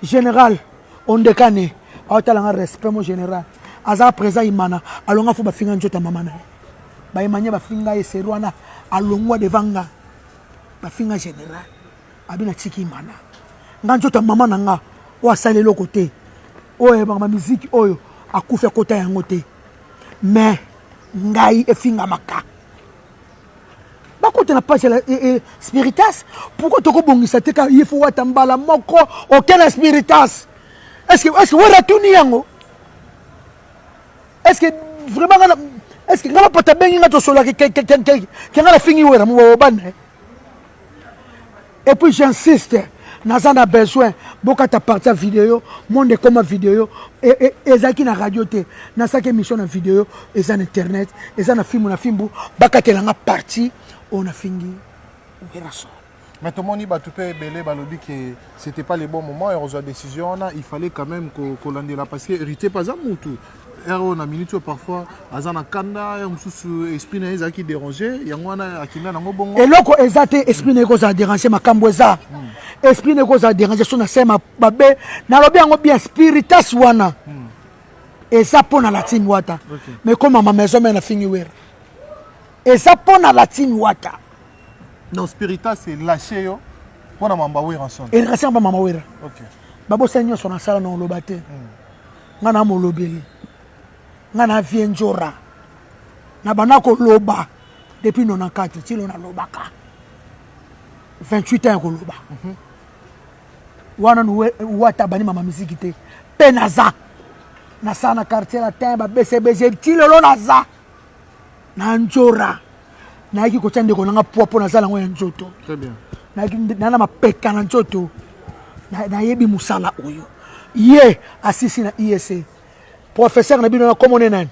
general ondekane aotala nga respect mo general aza présent imana alonga fo bafinga njota mama na ye baimanie bafinga ye seri wana alongwa devant nga bafinga general abi na tiki imana nga njota mama na nga oyo asali eloko te oyo ayebaka bamiziki oyo akufi akota yango te mais ngai efingamaka bakota na page ya eh, eh, spiritas pourkoi tokobongisa te ka ye fo wata mbala moko oke na spiritas estce estce wera tuni yango estce vraiment nga estce nga bapata bengi nga tosolaki ke nga nafingi wera mobobana Et puis j'insiste, naza na besoin bokata parti ya video monde ekoma video e, e, ezalaki na radio te nasalaki émission na video eza na internet eza na fimbu na fimbu bakatela nga parti oyo nafingi werason mais tomoni bato mpe ebele balobi ke c'était pas le bon moment ekozwa décision wana il fallait quand même kolandela parce que héritier mpe aza mutu heure oyo na minute oyo parfois aza na kanda heure mosusu esprit na ye ezalaki dérange yango wana akenda nango bongo eloko eza te esprit na ye kozala dérange makambo eza hmm. esprit na ye kozala dérange so na se mabe nalobi yango bien spiritas wana hmm. eza mpo na latine wata okay. mais komama maison me na fingi wera eza mpo na latine wata non spiritas elache yo mpo na mamba wera son elakasi yamba mama wera okay. babosani nyonso nasala na oloba te hmm. nga na molobeli nga na vie njora na banda koloba depuis 94 tino nalobaka 28 ans ya koloba mm -hmm. wana wata abandi mama miziki te mpe naza nasala na quartier latin babesebese ti lelo naza na njora nayaki kotya ndeko nanga poa mpo nazala yango ya nzoto nayaki na mapeka na nzoto nayebi mosala oyo ye asisi na isa e professeur na bino na komone nani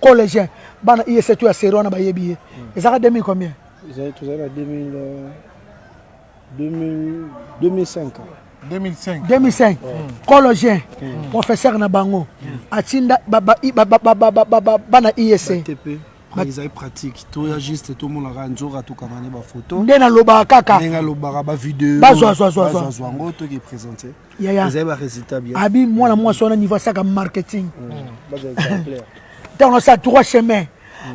collégien bana isa e to ya seri wana bayebi ye hmm. ezaka 2000 combien tozali na 2000 2005 2005 2005 cologien professeur na bango atinda bana ISA ezali pratique toya juste tomonaka nzoka tokanga ne bafoto nde nalobaka kaka ndenge alobaka bavideo bazwazwazwazwa yango toki présente yaya ezali ba résultat bien abi mwana mwasi wana niveau asaka marketing ntango asala trois chemin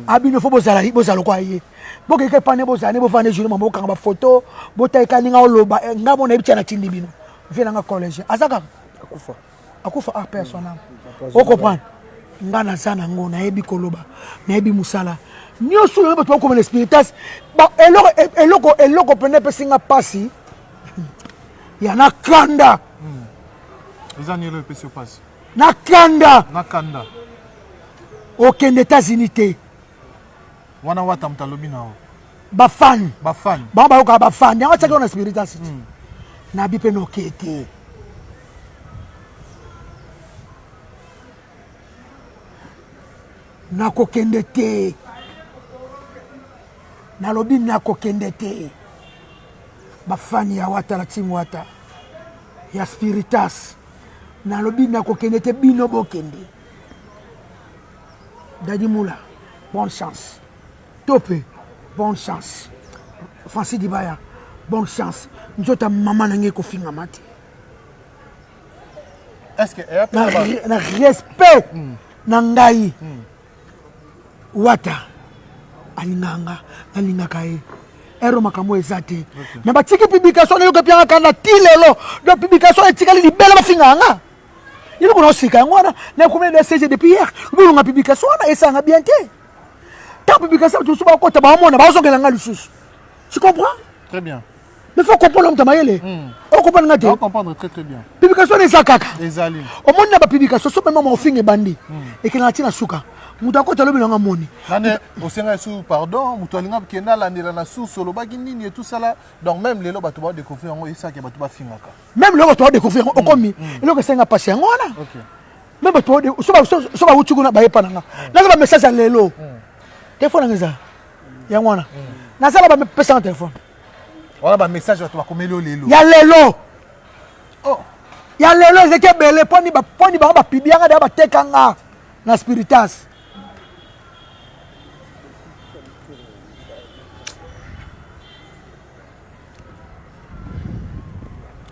abino fo bozala bozala lokola ye bokeke pane bozala ne bovanda jour mama bokanga bafoto botaika ndenge oloba eh, nga mona yebi tia natindi bino vie nanga collège aza kaka akufa akufa ah père son âme okomprendre nga naza nango nayebi koloba nayebi mosala nyonso oyo bato bakoma na spiritas eloko eloko mpenza epesi nga mpasi ya na kanda hmm. eza nini epesi yo mpasi na kanda na kanda okende etats-unis te wana wata moto alobi na yo bafani bafani bango bayokaka bafani yango atyaki yo na spiritas hmm. nabi mpe noke te nakokende te nalobi nakokende te bafani ya wata na team wata ya spiritas nalobi nakokende te bino bokende dadi mula bonne chance tope bonne chance franci dibaya bonne chance nzota mama na ngai ekofingama te na respect hmm. na ngai hmm. wata alingaka nga nalingaka ye ero makambo eza te me batiki publication nayoka pianga kanda ti lelo do publication etikali libele bafingaka nga yini kuna osika yango wana nakomi na sg depuis hier bolonga publication wana esanga bien te ntango publication bato mosusu bakota baomona bazongela nga lisusu tu comprends très bien mais faut comprendre moto mayele hmm. okomprendre nga te publication wana eza kaka omoni na bapublication so mema maofinga ebandi hmm. ekelaka ti na suka moto akota lobi nanga moni osenga esu pardon moto alinga kenda alandela na source olobaki nini etusala donc même lelo bato baodécouvrir yango esaki bato bafingaka même lelo bato baodécouvrir yango hmm. okomi eloko esenga mpasi yango wana me bato so bawuti kuna bayepa nanga naza bamessage ya lelo telefone nanga eza yango wana nasala bamepesanga telefone wana ba message bato bakomeli yo lelo ya lelo oh. ya lelo ezeki ebele mponi mponi bango bapibianga deya bateka nga na spiritas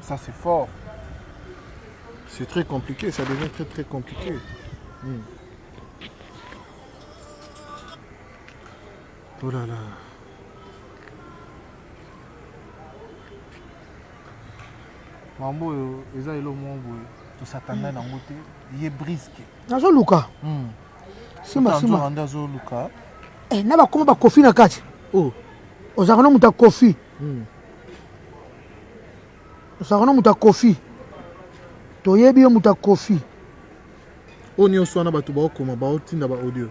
ça c'est fort c'est très compliqué ça devient très très compliqué hmm. Oh là là. Mambo oyo eza elo moko boye tosakana hmm. nango te ye briske nazoluka hmm. simasima nde azoluka eh, na bakoma bakofi na kati oh. ozalaka na moto ya kofi hmm. ozalaka na moto ya kofi toyebi yo moto ya kofi oyo nyonso wana bato baokoma baotinda baaudio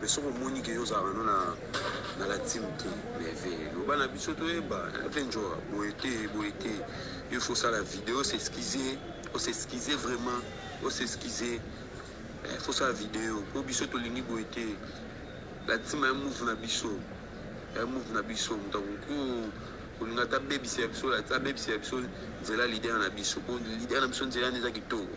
Mais soki omoni ke yo ozalaka no na na la team te merveille loba na biso toyeba mpe njoa boye te boye te yo faut osala video osexcuse osexcuse vraiment osexcuse eh, faut osala video mpo biso tolingi boye te la team ya move na biso ya move na biso moto akoki kolinga ata abebisa ya biso abebisa ya biso nzela lider na biso mpo lider na biso nzela nde eza kitoko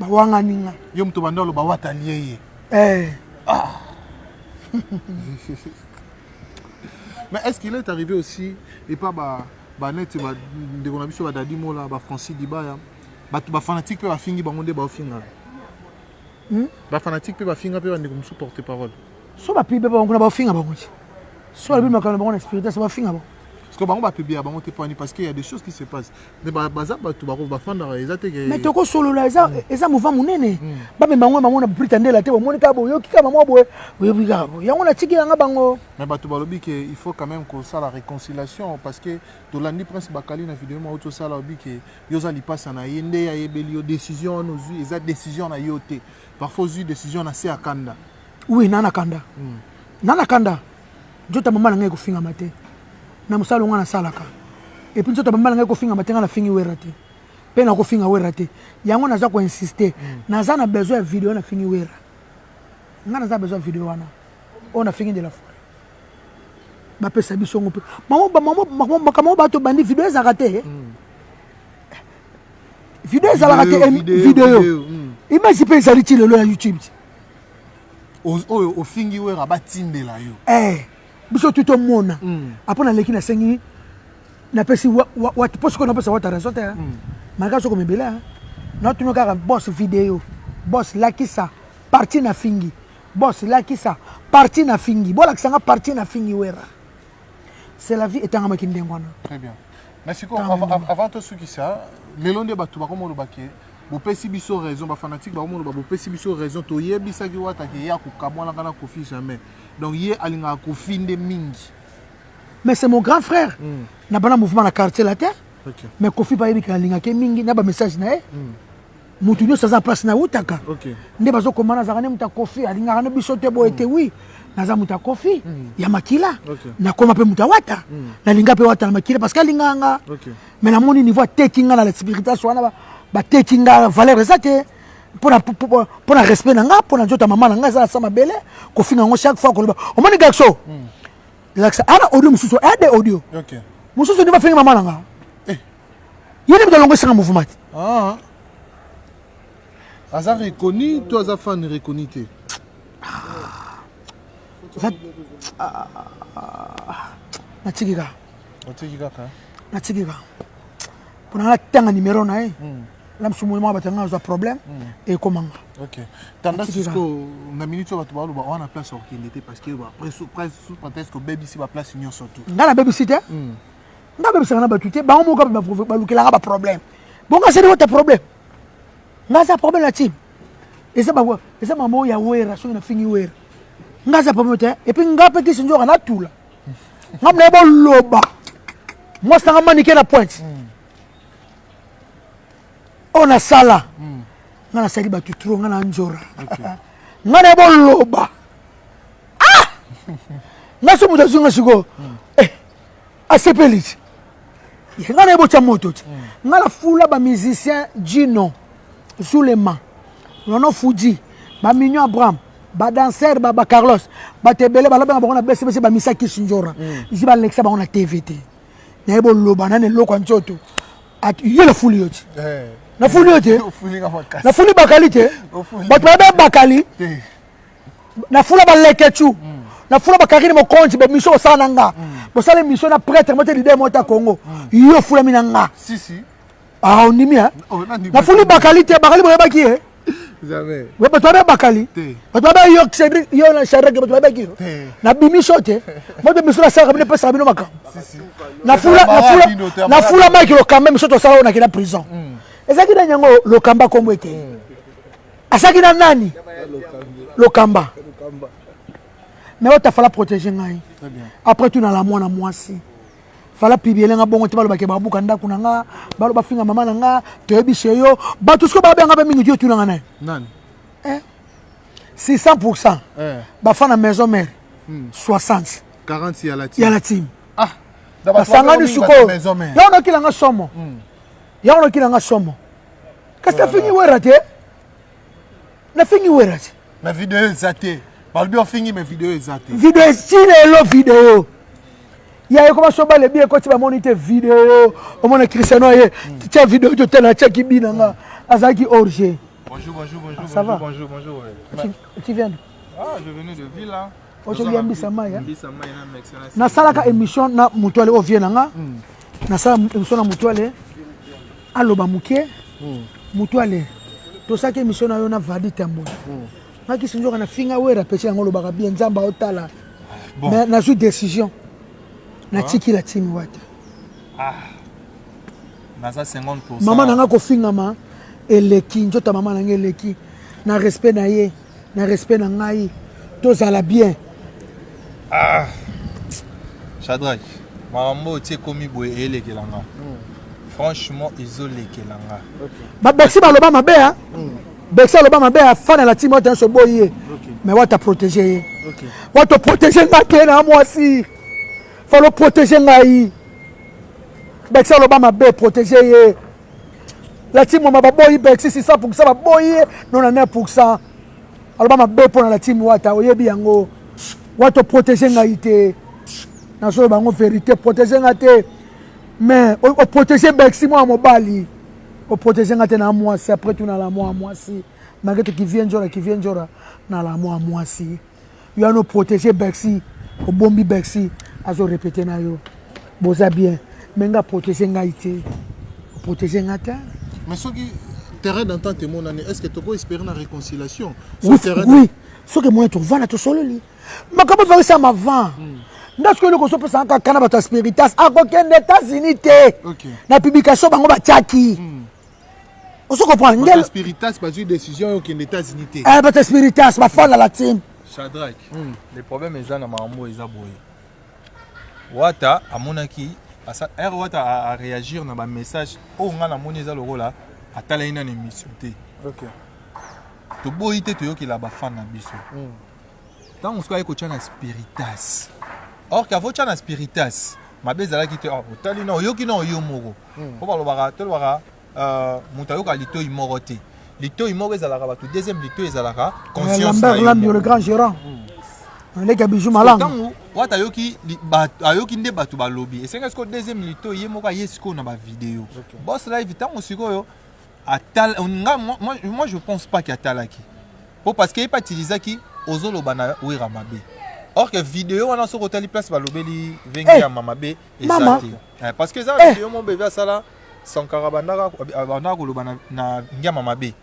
bawangani nga yo moto banda oloba wata alie ye eh. ah. mais est ce qu'il est arrivé aussi epa ba baneti bandeko na biso badadi mola bafrancis dibaya bato bafanatike mpe bafingi bango nde baofingana hmm? bafanatike mpe bafinga mpe bandeko mosusu porte parole so bapibe bango kuna baofinga bango ti so balobi makambo na bango na spiritas bafinga bango parce que bango bapibia bango te poani parce que ya des choses qui se passe mais baza bato bako bafandaka eza te mais tokosolola eza mm. eza mova monene mm. bamema yango bango na brita ndela te bomoni kaka boyoki kaka mwa boye boyoki kaka boye yango natiki yanga bango mais bato balobi ke il faut quand même kosala réconciliation parce que tolandi prince bakali na video moko tosala obi ke yo oza lipasa na ye nde ayebeli yo décision wana ozwi eza décision na yo te parfois ozwi décision na se akanda oui nana kanda mm. nana kanda Nzota mama na ngai ekofingama te na mosala longa nasalaka epuis nzota mama na ngai ekofingama te ngai nafingi wera te mpe nakofinga wera te yango naza koinsiste mm. naza na besoin ya video nafingi wera ngai naza na besoin ya video wana oyo nafingi de la foi bapesa biso ngo mpe makambo oyo bato bandi video ezalaka te eh? mm. video ezalaka te eh, video mm. image mpe ezali ti lelo ya youtube oyo ofingi wera batindela yo eh, biso tu tomona mm. apres naleki nasengi napesi po sikoyo napesa wata raison te ah. mm. malgre soko mebela ah. natuna kaka bos video bos lakisa parti na fingi bos lakisa parti na fingi bolakisa nga parti na fingi wera c'est la vie etangamaki ndenge wana très bien mais sikoyo avant tosukisa lelo nde bato bakoma oloba ke bopesi biso raison bafanatike bakoma oloba bopesi biso raison toyebisaki wata ke ye akokamwanaka na kofi jamais donc ye alingaka kofi nde mingi mais c'est mon grand frère mm. na bana mouvement na quartier latin okay. mais kofi bayebi ke alingaki mingi na bamessage na ye mm. moto nyonso aza place nautaka okay. nde bazokoma nazalaka nde moto ya kofi alingaka nde biso te boye te mm. wi naza moto ya kofi mm. ya makila okay. nakoma mpe moto ya wata mm. nalinga mpe wata na makila parce que alingaka nga okay. me namoni niveau ateki nga na la spiritation wana bateki nga valeur eza te mpo na respect na nga mpo na nzoto ya mama na nga eza na sa mabele kofinga yango chaque fois koloba omoni gaxo mm. lakisa ana audio mosusu ade audio okay. mosusu nde bafingi mama na nga ye nde moto alongwesaka mouvement te ah. aza reconnu to aza fan reconnu te natiki kaka otiki kaka natiki kaka mpona natanga numero na ye hmm. na mosusu moyi moko bato yanga azwa problème hmm. ekomanga tanda sisko na minute oyo bato baloba wana place okende te parce que presque obebisi baplace nyonso tu ngai nabebisi te hmm. nga bebisaka na bato te bango moko mpe balukelaka baproblème bongo asali wata problème nga aza problème na tim eza bango eza mama oyo ya wera soki nafingi wera nga aza problème te epuis nga mpe kisi nzoka natula nga mnaye boloba mwasi nanga manike na pointe hmm. oyo nasala hmm. nga nasali bato tro nga na njora nga naye boloba ah! nga so moto azwi nga sikoyo hmm. asepeli ti ye ngai naye botya moto ti hmm. ngai nafula bamusicien jino zulema nono fuji bamigno abraham badanser bacarlos bato ebele balobaka bango na besebese bamisa kisindjora hmm. ji balekisa bango na tv te naye boloba nani eloko ya nzoto ye nafuli yo ti eh. nafuli yo te nafuli bakali te bato babe bakali na fula ba leketchu mm. na fula ba karine mokonzi ba mission osala na nga mm. bosala mission na prêtre mote leader mota congo mm. yo fulami na nga si si ah ondimi hein oh, na fuli bakali te bakali boyebaki ye Jamais. Mais tu as bakali. Tu as pas yo Cédric, yo na Cédric, tu as pas qui. Na bimi sote. Moi de misura ça comme ne pas sabino maka. Na fula na fula na fula maki lo quand même soto sala na kina prison. Ezaki na nyango lo kamba kombo ete. asaki na nani lokamba me oyo tafala protege ngai après tout nala mwana mwasi fala pibiele nga bongo te balobake babuka ndako na nga balo bafinga mama na nga toyebise yo bato siko babeyanga mpe mingi ti otunanga naye 600 eh? pour cent eh. bafa na maison mare 60 hmm. ya la team ah, basangani sikoyo yo nokilanga somo hmm. yango noki na nga somo kasi nafingi wera te nafingi wera te na video eza te balobi ofingi me video eza te video ti lelo video ya ekoma soba lebi ekoti bamoni te video omona cristiano ye tia video to tela tia kibi na nga azalaki orge bonjour bonjour bonjour ah, ça va bonjour bonjour tu viens ah je venais de ville là ozo lia mbisa mai hein? nasalaka émission na mutuale oyo vie na nga hmm. nasala émission na mutuale aloba moke hmm. mutuale tosaki émission na yo na vadi tambo hmm. nga kisi nzoka na finga wera peti yango olobaka bien nzambe aotala mais nazwi décision natiki la timi wata ah. mama na nga kofingama eleki nzoto mama na nga eleki na respect na ye na respect na ngai tozala bien ah. chadrak makambo oyo ti ekomi boye eyelekela nga hmm. franchement ezolekela nga babexi baloba mabe a hmm. bexi aloba mabe afana na timi wata nyonso boyi ye mais wata protege ye wata protege nga te na mwasi falo protege ngai bexi aloba mabe protege ye la team wama baboyi bexi sisa poursa baboyi ye nona ne pourcent aloba mabe mpo na la team wata oyebi yango wata oprotege ngai te nazolo bango verité protege ngai te mais oprotege bexi mwana mobali oprotege ngai te na mwasi après tuna la mwa mwasi malgré te kivie njora kivie njora na la mwa mwasi yo ano protege bercy obombi bercy azo repete na yo boza bien me nga protege ngai te protege nga te mais soki terrain d'entente emonani est ce que toko espere na réconciliation oui, oui. soki emoni tovanda tosololi makambo evangisama avant mm. nde soki eloko ozopesaka kaka na bato ya spiritas akokende etats-unis te okay. na publication bango batiaki mm. ozo comprendre ngel spiritas bazui décision yo kende États-Unis te eh bata spiritas ba fala la team Shadrach mm. le problème eza na mambo eza boye Wata amonaki asa er Wata a, a réagir na ba message oyo nga namoni eza lokola atalaki na émission te okay toboyi te toyokela bafan na biso mm. ntango mosusu ayei kotya na spiritas or kavo tya na spiritas mabe ezalaki te ah, otali na oyoki na oyo moko mpo hmm. balobaka tolobaka euh, moto ayoka litoi moko te litoi moko ezalaka bato deuxième litoi ezalaka consciencelambi le grand gérant hmm. leki ya bijou malangantango wata ayoki ayoki nde bato balobi esengeli sikoyo deuxième litoi ye moko aye sikoyo na bavideo bos live ntango sikoyo atala nga moi, moi, moi je pense pas que atalaki po parce que ye mpe atilizaki ozoloba na wera mabe or que video wana soki otali place balobeli venge Eh, ya mama be eza mama. te Eh, parce que eza Eh. video mo bebe asala sankara abandaka abandaka koloba na- na ngiama mabe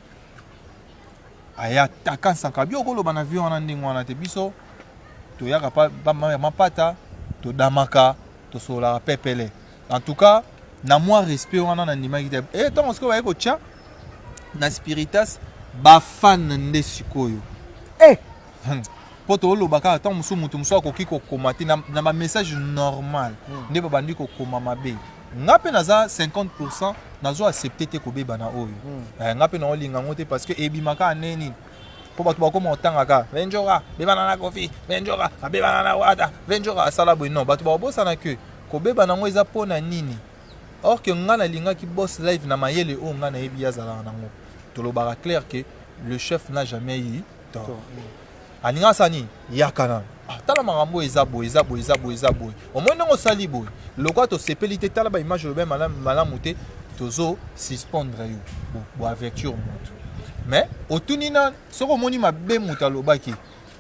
aya ataka sankara bio okoloba na vie wana ndenge wana te biso toyaka pa- ba- ma- mapata todamaka tosololaka pepele en tout cas na mwa respect wana nandimaki te e ntango sikoyo baye kotya na spiritas bafane nde sikoyo eh! Hmm. mpo tooloba kaka ntango mosusu moto mosusu akoki kokoma te na bamessage normal hmm. nde babandi kokoma mabe nga mpe naza 50 pourcent nazo accepte te kobeba na oyo hmm. eh, nga mpe naolinga yango te parce que ebimaka ane nini mpo bato bakoma otangaka venjoka bebana na kofi venjoka abebana na wata venjoka asala boye non bato bakobosana que Kobeba nango eza pona nini? Or que nga nalingaki boss live na mayele oyo nga nayebi azalaka nango. Tolobaka clair que le chef n'a jamais eu tort. Alinga sani yakana. Ah, tala makambo oyo eza boye eza boye eza boye eza boye omoni ndenge osali boye lokola tosepeli te tala baimage olobi malamu te tozo suspendre yo boaverture motu mais otuni na soki omoni mabe moto alobaki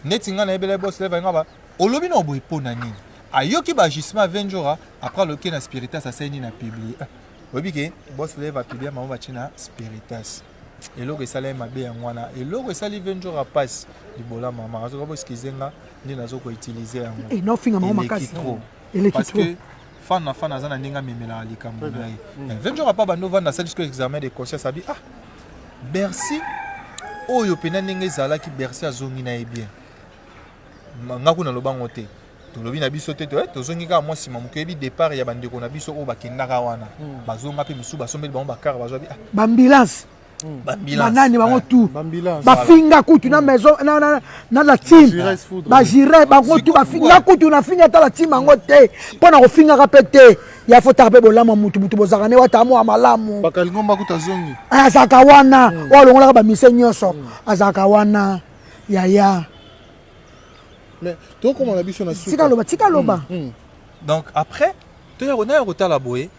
neti ngai nayebela bosleva nga ba olobi na oboye mpo na nini ayoki ba agissement ya njora après aloki na spiritas asali nini apiblie ah, oyebi ke bos leve apiblie mama batie na spiritas eloko esala ye mabe yango wana eloko esali ve njora mpasi libola mama azoka boskize nga nde nazo koutilize yango eh, eleki trop parce que fan na fan aza na ndenge amemelaka likambo na ye mm. eh, ve njora pa bando vanda asali siko examen de conscience abi ah bercy oyo mpena ndenge ezalaki bercy azongi na ye bien nga kuna lobango te tolobi na biso te eh, tozongi kaka mwa nsima moke oyebi départ ya bandeko na biso oyo bakendaka wana hmm. bazonga mpe mosusu basombeli bango bakar bazwa ah. bambilance hmm. banani bango eh, tu bafinga kutu na hmm. maison na la team bagire bango tu bafinga kutu nafinga ata la team yango te mpo na kofingaka mpe te ya fotaka mpe bolamu ya motu motu bozalaka ne wata mwa malamu eh, azalaka wana oyo alongolaka bamise nyonso azalaka wana yaya Mais to koma na biso na suka. Tika loba, tika loba. Mm, mm. Donc après, to ya kona ya kotala boye.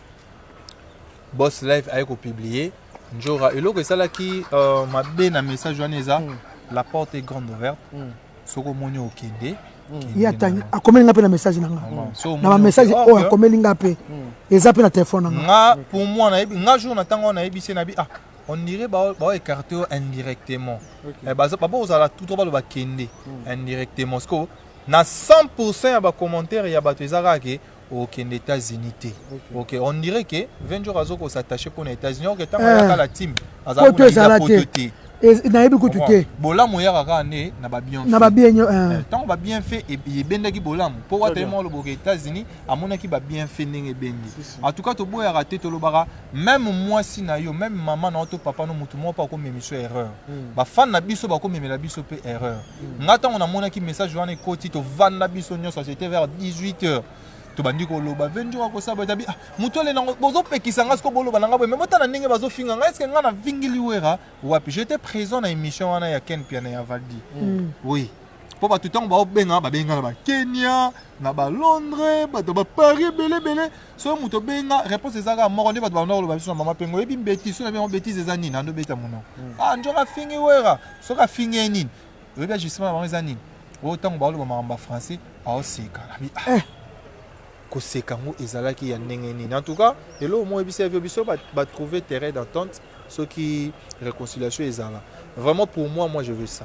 Boss Live aye ko publier Njora eloko esalaki euh, mabe na message wana eza mm. la porte est grande ouverte. Mm. Soko moni okende. Mm. ye atangi akomeli nga mpe na message na nga na bamessage oyo akomeli nga mpe eza mpe na telefone na nga nga pour moi nayebi nga jour na ntango wana nayebisi nayebi ah on dirait ba ba écarté indirectement okay. eh, ba ba ozala tout ba ba kende mm. indirectement siko na 100% ya ba commentaire ya bato eza kaka ke okende états-unis te ok on dirait ke 20 jours azo kosattache mpo na états-unis ok ntango eh. ayaka la team azala poto te nayebi kutu te bolamu eyaka kaka nde na babienfait na babienyo eh. eh, ntango babienfait e-, e-, ebendaki bolamu mpo watali mwa oloboka états-unis amonaki babienfait ndenge ebendi en tout cas toboyaka te tolobaka meme mwasi na yo meme mama na yo to papa no motu moko mpe akomema biso erreur mm. bafani na biso bakomemela biso mpe erreur mm. ngai ntango namonaki message wana ekoti tovanda biso nyonso c'était vers 18 heures tobandi koloba venjura kosaba etabi ah, moto ale nango bozopekisa ngai siko boloba na ngai boye me botala ndenge bazofinga ngai eske ngai na vingili wera wapi j'étais présent na émission wana ya ken piana ya valdi mm. oui mpo bato ntango baobenga babenga na bakenya na balondre bato baparis ebele ebele soki moto obenga réponse eza kaka moko nde bato banda koloba biso na mama mpengo oyebi mbeti soki nabengo betise eza nini ando beta monoko hmm. ah nzoka afingi wera soki afingi ye nini oyebi ajustement na bango eza nini oyo ntango baoloba makambo ya français aoseka nabi ah. eh. koseka yango ezalaki ya ndenge nini en tout cas eloko moko oyebisa yo biso batrouve terrain d'entente soki réconciliation ezala vraiment pour moi moi je veux ça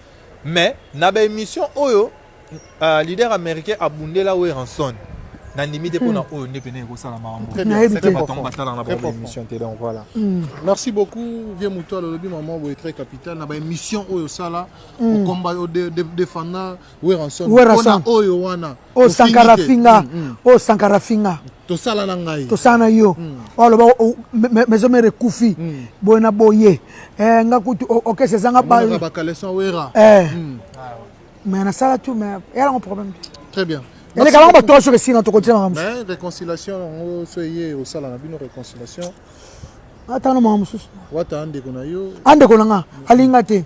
Mais na ba emission oyo uh, leader américain abundela Werrason nandimi te mpo na oyo nde pene ekosala makambobatongo batalaka na bango émission te donc voilà hmm. merci beaucoup vie moto alolobi mama boye très capital na baémission oyo osala okomba hmm. odefanda werrason mpona oyo wana oyo sankara afinga oyo sankara afinga tosala na ngai tosala na yo oloba maison mère ekufi boye na boye eh, nga kutu okese ezanga bacaleson wera eh. hmm. mais nasala tu mais eyalango problème très bien eleka bango bato soki esina tokotia makambo réconciliation yango so eye osala na bino réconciliation atanga na makambo mosusu wata andeko na yo andeko na nga alinga te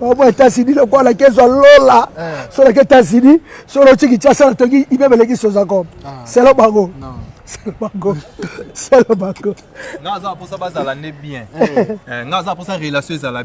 obo etats-unis lokola kezwa lola eh. so laki etats-unis so lotyi kinshasa na tongi ibe beleki sozacom ah. selo bango selo bango selo bango nga aza mposa bazala nde bien eh. eh, nga aza mposa relation ezala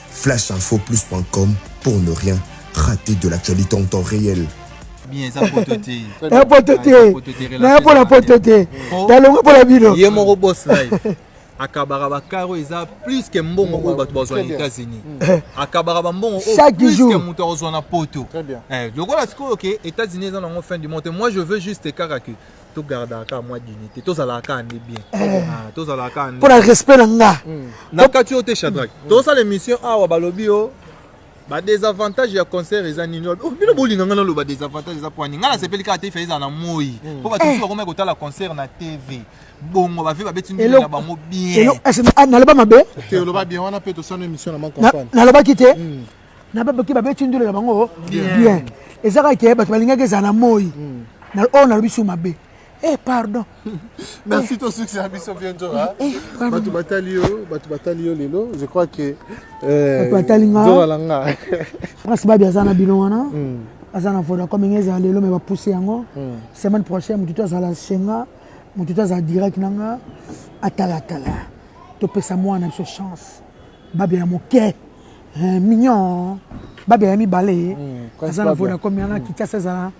Flashinfoplus.com pour ne rien rater de l'actualité en temps réel. bien eza poto te na poto te na ya mpona poto te nalongo mpona bino ye moko bos live akabaka bakaro eza plus ke mbongo oyo bato bazwa na états-unis eh. akabaka bambongo oyo moto akozwa na poto eh, lokola sikoyo ke états-unis eza nango fin du monde moi je veux juste kaka ke to gardaka kaka mwa dignité tozalaka kaka nde bien eh. ah, tozalaka kaka mpo na respect na nga hmm. na kati yo te chadrake hmm. tozosala émission awa balobi yo badesavantage ya concert eza nini oh, bino bolinga ngai naloba desavantage eza pwani ngai nasepeli kaka te ifa ezala na moi hmm. mpo bato mosusu eh. bakomai kotala concert na tv bongo bave babeti ndenge na bango bien ah, naloba mabe te oloba bien wana mpe tosana émission na makampanalobaki te na babaki babeti ndule na bango bien eza kaka ke bato balingaki ezala na moi oyo nalobi su mabe Eh, pardon. Merci eh. ton succès à Bisso Bienjo. Eh, eh, bato batali yo, bato batali yo lelo, je crois que euh, bato batali nga. Nzo alanga. Prince Babi aza na bino wana. Hmm. Aza na Vodacom ngezi ezala lelo mais ba pousser yango. Hmm. Semaine prochaine mutu azala senga, mutu azala direct nanga atala tala. Topesa mwana biso chance. Babi ya moke. eh, mignon babe ya mibale hmm, aza na vodacom yana hmm. kinshasa ezala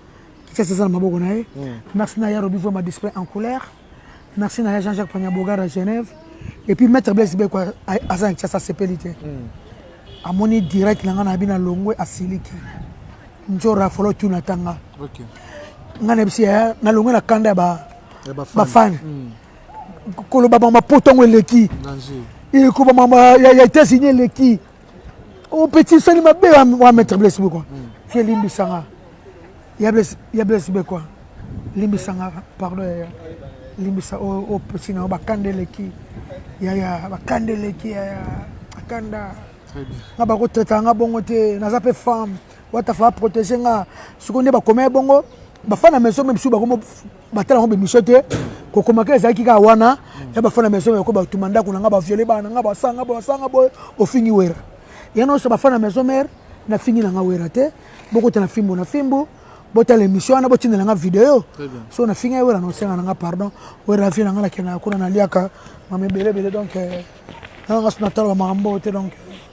kinshasa eza na maboko na ye hmm. merci na ya robi vrema display en couleur merci na ya jean jacques paniabogar ya genève et puis maître blaise beko aza na kinshasa asepeli te amoni direct na ngai na bino alongwe asiliki njora afolo tuna atanga ngai na biso yaya nalongwe na kanda ya bafani koloba mama poto yango eleki ekoba mama ya états-unis eleki opeti oh, sali mabe wa maître blesse boko hmm. fie limbisanga ya blesse bekwa limbisanga pardon yaya limbisa opesi na yo bakanda eleki yaya bakanda eleki yaya bakanda nga bakotraitaka nga bongo te naza mpe femme watafa aprotege nga sikoyo nde bakomei bongo bafana maison meme si bakomi batala yango bemission te kokomaka ezalaki kaka wana ya bafana maison meko batuma ndako na nga baviole bana nga basanga basanga boye bofingi wera ya nyonso bafana maison mare nafingi na nga wera te bokota na fimbo na fimbo botala émission wana botindela nga video so nafingi ye wera nosenga na nga pardon wera vie na nga nakendaka kuna naliaka mama ebele ebele donc nanga so natala bamakambo te donc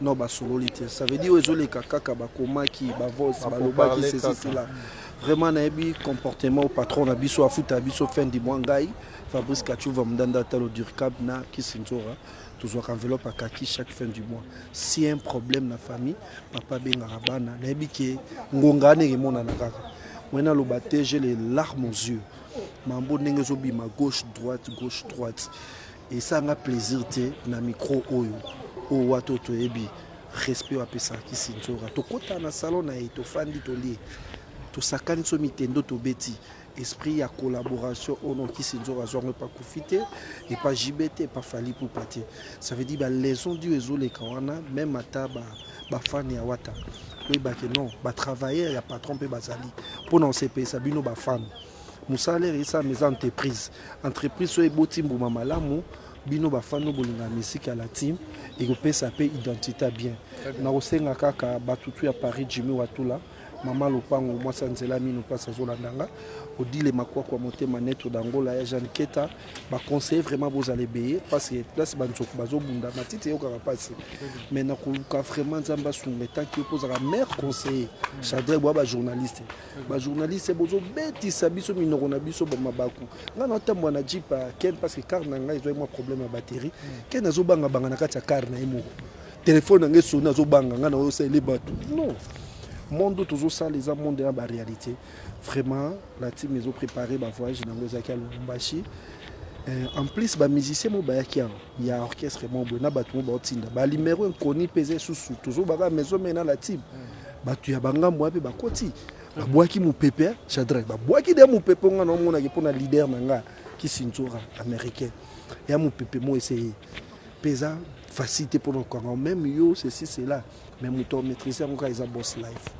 non basololi te ça veut dire ezoleka kaka bakomaki bavose balobaki ceci cela vraiment nayebi comportement patron na biso afuta biso fin du mois ngai fabrice kachuva mndanda talo durcab na kisinzora tozwaka enveloppe akaki chaque fin du mois si un problème na famille papa abengaka bana nayebi ke ngonga wana emonana kaka moi naloba te j'ai les larmes aux yeux mambo ndenge ezobima gauche droite gauche droite Esanga plaisir te na micro oyo oyo wato toyebi respect oyo apesaki sinzora tokota na salon na ye tofandi tolie tosakani so mitendo tobeti esprit ya collaboration oyo noki sinzora azwango epa kofi te epa jibe te epa fali pupa te ça veut dire balaison dio ezoleka wana meme ata bafane ya wata oyebake non batravailleur ya patron mpe bazali mpo na osepelisa bino bafane mosala esalama eza entreprise entreprise oyo eboti mbuma malamu bino bafani no bolinga misiki ya la team ekopesa mpe identité ya bien nakosenga kaka batutu ya paris jimi watula mama lopango mwasi ya nzela mino mpasi azolanda nga odile makwakwa motema neto dangola ya jeanne keta baconseille vraiment bozala ebeye mpasi place banzoku bazobunda matiti eyokaka mpasi mai nakoluka vraiment nzambe asunga etanki yo mpo ozalaka maire conseiller chadre bwa bajournaliste ba journaliste bozo betisa biso minoko na biso ba mabaku nga na tambwa na jeep ya ken parce que car na nga ezo mwa problème ya batterie ken azo banga banga na kati ya car na ye moko telefone na nga esoni azo banga nga na oyo sele bato non monde oyo tozosala eza monde ya baréalité vraiment la team ezo préparé bavoyage na yango ezalaki ya lubumbashi Euh, en plus bamusicien mo bayaki awa ya orchestre mo boye na bato mo baotinda balimero inconi mpe eza esusu tozobaka maison mai na la team bato ya bangambo wapi bakoti babwaki mopepe chadrak babwaki de mopepe nga naomonaki mpo na leader na nga kisinzora américain ya mopepe mo eseye mpe eza facile te mpo na kokanga meme yo ceci cela mais moto maîtrise yango kaka eza boss life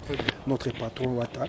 notre patron wata